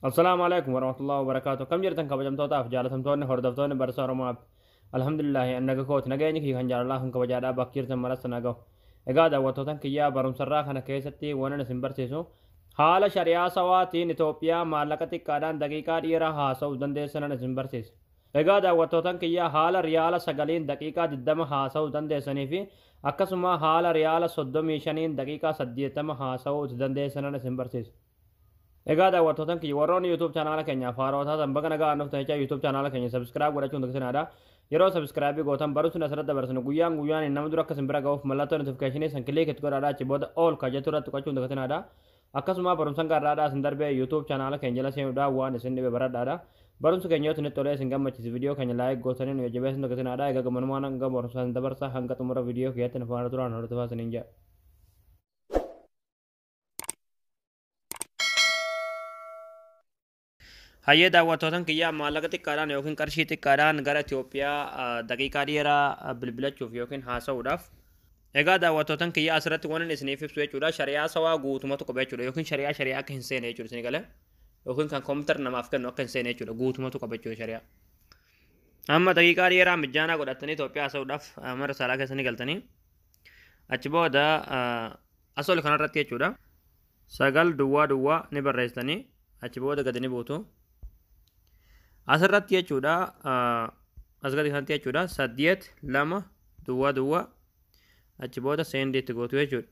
Assalaamu alaikum warahmatullahi wabarakaatu. Kam jirtan kabajamtootaaf jaalatamtoonni hordoftoonni barsaa Oromaaf. Alhamdulillahi annaga kooti nageenyi kiyya kan jaalalaa kan kabajaadhaa bakka jirtan maratti na gahu. Egaa daawwattootan kiyyaa barumsarraa kana keessatti waan isin barsiisu haala shari'aa sawaatiin Itoophiyaa maallaqa xiqqaadhaan daqiiqaa dhiiraa haasa'uuf dandeessanan isin barsiisa. Egaa daawwattootan kiyyaa haala riyaala sagaliin daqiiqaa 20 haasa'uu dandeessanii fi akkasuma haala riyaala 35n daqiiqaa 80 haasa'uu itti dandeessanan isin barsiisa. Egaa daawwattootan kiyya warroonni YouTube chaanaala keenyaaf haaroo taatan baga nagaan dhuftan jecha YouTube chaanaala keenya subscribe godhachuun daksinaadha. Yeroo subscribe gootan barumsi asirratti dabarsinu guyyaan guyyaan nama dura akka isin bira ga'uuf mallattoo notification san click itti godhaadha achi booda all ka jettu irratti tuqachuun daksinaadha. Akkasuma barumsan gaarraadha isin darbee YouTube chaanaala keenya jala seenuudhaan waan isin dhibe baradhaadha. Barumsi keenya yoo isinitti tolee isin gammachiise viidiyoo keenya like gootanii nu jajjabeessuun daksinaadha. Egaa gammanumaan hanga barumsa isin dabarsa hanga xumura viidiyoo kiyyaatti nu faana turaan hordofaa isiniin jedha. Hayyee daawwattootan kiyyaa maallaqa xiqqaadhaan yookiin qarshii xiqqaadhaan gara Itoophiyaa daqiiqaa dheeraa bilbilachuuf yookiin haasa'uudhaaf Egaa daawwattootan kiyyaa asirratti waan inni isiniif ibsu jechuudha shari'aa sawaa guutumatu qaba jechuudha yookiin shari'aa shari'aa akka hin seene jechuudha isin galee yookiin kan kompiitar namaaf kennu akka hin seene jechuudha guutumatu qaba jechuudha shari'aa. Amma daqiiqaa dheeraa mijaanaa godhattanii Itoophiyaa haasa'uudhaaf mana risaalaa keessanii galtanii achi booda Asol kanarratti jechuudha. Sagal duwwaa duwwaa ni barreessitanii achi booda gadi ni buutu. Asirratti jechuudha as gadi kanatti jechuudha saddeet lama duwwaa duwwaa achi booda seendii itti gootu jechuudha.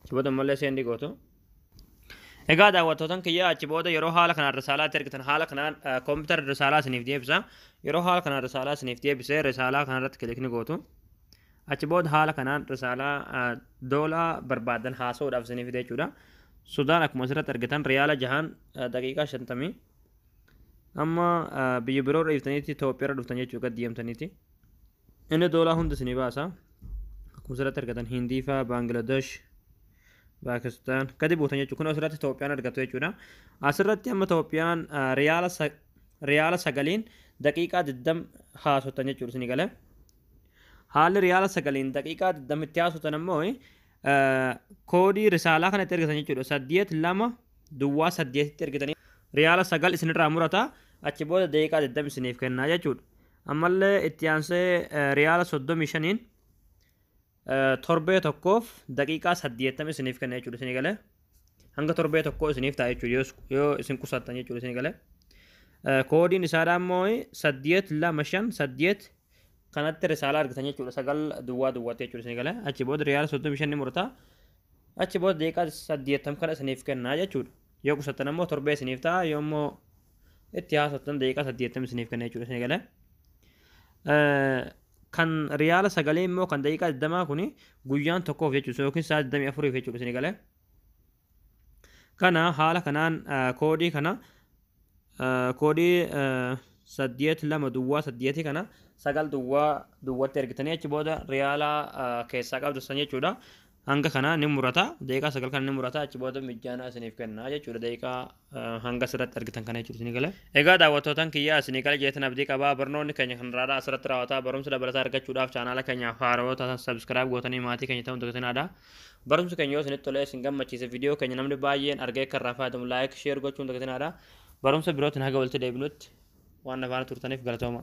Achi booda ammallee seendii gootu. Egaa daawwattootan kiyya achi booda yeroo haala kanaan risaalaatti ergitan haala kanaan koompitara risaalaa isiniif deebisa. Yeroo haala kanaan risaalaa isiniif deebise risaalaa kanarratti kilikni gootu. Achi booda haala kanaan risaalaa doolaa barbaadan haasa'uudhaaf isiniif fide jechuudha. Sudaan akkuma asirratti argitan riyaala jahaan daqiiqaa shantamii. Amma biyya biroo dhiiftaniitti Itoophiyaarra dhuftan jechuudha gad deemtaniiti. Inni doolaa hunda isinii baasa. Akkuma asirratti argatan Hindii fa'aa, Baangilaadesh, Paakistaan gadi buutan jechuudha. Kun asirratti Itoophiyaan argattu jechuudha. Asirratti amma Itoophiyaan ah, riyaala sa- riyaala sagaliin daqiiqaa 20 haasoftan jechuudha isinii galee. Haalli riyaala sagaliin daqiiqaa 20 itti haasoftan ammoo eh, koodii risaalaa kana itti ergitan jechuudha. Saddeet lama duwwaa saddeetitti ergitanii riyaala sagal isinirraa murata achi booda daqiiqaa 20 isiniif kennaa jechuudha. Ammallee itti aansee riyaala 35n torbee tokkoof daqiiqaa 80 isiniif kenna jechuudha isinii galee. Hanga torbee tokkoo isiniif ta'a jechuudha yoo isin qusattan jechuudha isinii galee. Koodiin isaadhaa immoo 825 8 kanatti risaalaa argitan jechuudha sagal duwwaa duwwaatti jechuudha isinii galee. Achi booda riyaala 35 ni murtaa. Achi booda daqiiqaa 80 kana isiniif kenna jechuudha. Yoo qusattan ammoo torbee isiniif ta'a yoo immoo itti haasoftan daqiiqaa saddeettama isiniif kenna jechuudha isin eegale. Kan riyaala sagalee immoo kan daqiiqaa digdamaa kuni guyyaan tokkoof jechuudha yookiin sa'a digdamii afuriif jechuudha isin eegale. Kana haala kanaan koodii kana koodii saddeet lama duwwaa saddeetii kana sagal duwwaa duwwatti ergitanii achi booda riyaala keessaa qabdu san jechuudha. hanga kana ni murata daqiiqaa sagal kana ni murata achi booda mijjaanaa isiniif kenna jechuudha daqiiqaa eh, hanga asirratti argitan kana jechuudha isinii gale. Egaa daawwattootaan kiyyaa isinii gale jeetan abdii qabaa barnoonni keenya kan irraa asirratti raawwataa barumsa dabalataa argachuudhaaf chaanaala keenyaaf haarawoo taatan sabskiraayib gootanii maatii keenya ta'uun daggatinaadha. Barumsi keenya yoo isinitti tolee isin gammachiise viidiyoo keenya namni baay'een argee akka irraa fayyadamu laayik sheer gochuun daggatinaadha. Barumsa birootiin haga walitti deebinutti waan nafaana turtaniif galatooma.